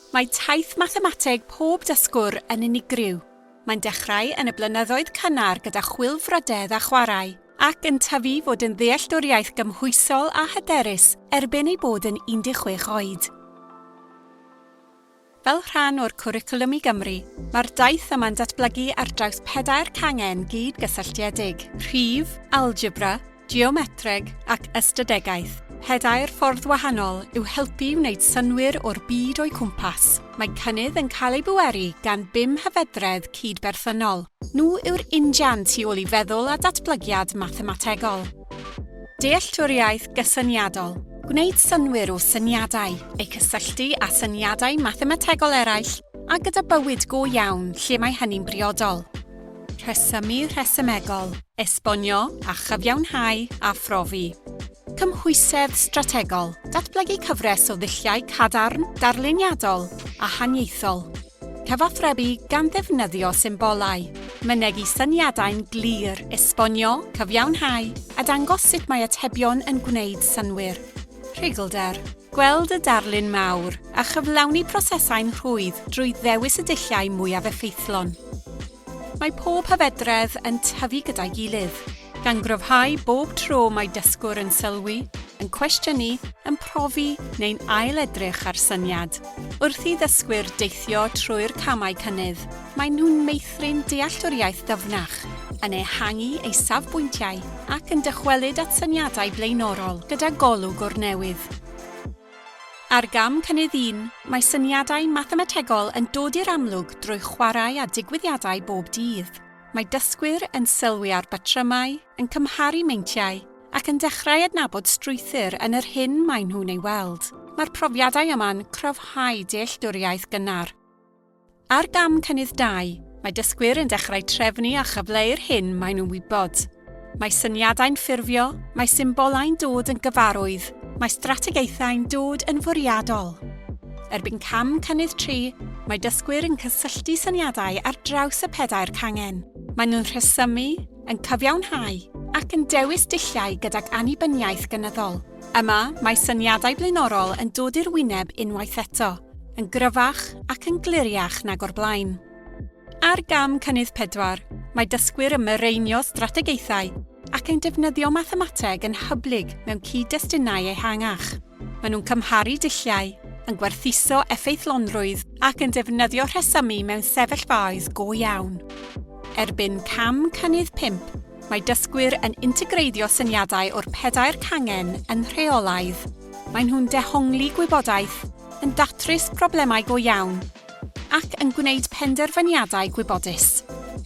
Mae taith mathemateg pob dysgwr yn unigryw. Mae'n dechrau yn y blynyddoedd cynnar gyda chwilfrydedd a chwarae, ac yn tyfu fod yn ddealltwriaeth gymhwysol a hyderus erbyn ei bod yn 16 oed. Fel rhan o'r Cwricwlwm i Gymru, mae'r daith yma'n datblygu ar draws pedair cangen gyd-gysylltiedig, rhif, algebra, geometreg ac ystadegaeth. Pedair ffordd wahanol yw helpu i wneud synnwyr o'r byd o'u cwmpas. Mae cynnydd yn cael ei bweru gan bum hyfedredd cyd-berthynol. Nhw yw'r injan tu ôl i feddwl a datblygiad mathemategol. Dealltwriaeth gysyniadol. Gwneud synnwyr o syniadau, eu cysylltu â syniadau mathemategol eraill a gyda bywyd go iawn lle mae hynny'n briodol. Rhesymu rhesymegol, esbonio a chyfiawnhau a phrofi. Cymhwysedd strategol, datblygu cyfres o ddulliau cadarn, darluniadol a haniaethol. Cyfathrebu gan ddefnyddio symbolau. Mynegi syniadau'n glir, esbonio, cyfiawnhau a dangos sut mae atebion yn gwneud synnwyr. Rhuglder. Gweld y darlun mawr, a chyflawni prosesau'n rhwydd drwy ddewis y dulliau mwyaf effeithlon. Mae pob hyfedredd yn tyfu gyda'i gilydd, gan gryfhau bob tro mae dysgwr yn sylwi, yn cwestiynu, yn profi neu'n ail-edrych ar syniad, wrth i ddysgwyr deithio trwy'r camau cynnydd. Maen nhw'n meithrin dealltwriaeth ddyfnach, yn ehangu ei safbwyntiau ac yn dychwelyd at syniadau blaenorol gyda golwg o'r newydd. Ar gam cynnydd un, mae syniadau mathemategol yn dod i'r amlwg drwy chwarae â digwyddiadau bob dydd. Mae dysgwyr yn sylwi ar batrymau, yn cymharu meintiau, ac yn dechrau adnabod strwythur yn yr hyn maen nhw'n ei weld. Mae'r profiadau yma'n cryfhau dealltwriaeth gynnar. Ar gam cynnydd dau, mae dysgwyr yn dechrau trefnu a chyfleu'r hyn maen nhw'n wybod. Mae syniadau'n ffurfio, mae symbolau'n dod yn gyfarwydd, mae strategaethau'n dod yn fwriadol. Erbyn cam cynnydd tri, mae dysgwyr yn cysylltu syniadau ar draws y pedair cangen. Maen nhw'n rhesymu, yn cyfiawnhau ac yn dewis dulliau gydag annibyniaeth gynyddol. Yma, mae syniadau blaenorol yn dod i'r wyneb unwaith eto, yn gryfach ac yn gliriach nag o'r blaen. Ar gam cynnydd pedwar, mae dysgwyr yn mireinio strategaethau ac yn defnyddio mathemateg yn hyblyg mewn cyd-destunau ehangach. Maen nhw'n cymharu dulliau, yn gwerthuso effeithlonrwydd ac yn defnyddio rhesymu mewn sefyllfaoedd go iawn. Erbyn cam cynnydd pump, Mae dysgwyr yn integreiddio syniadau o'r pedair cangen yn rheolaidd, maen nhw'n dehongli gwybodaeth, yn datrys problemau go iawn, ac yn gwneud penderfyniadau gwybodus.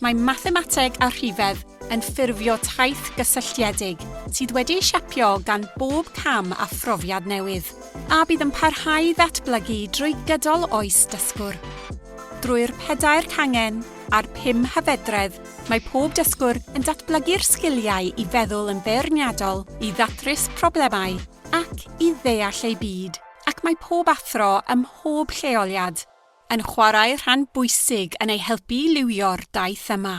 Mae mathemateg a rhifedd yn ffurfio taith gysylltiedig sydd wedi'i siapio gan bob cam a phrofiad newydd, a bydd yn parhau i ddatblygu drwy gydol oes dysgwr. Drwy'r pedair cangen a'r pum hyfedredd, Mae pob dysgwr yn datblygu'r sgiliau i feddwl yn beirniadol, i ddatrys problemau ac i ddeall eu byd, ac mae pob athro ym mhob lleoliad yn chwarae rhan bwysig yn eu helpu i liwio'r daith yma.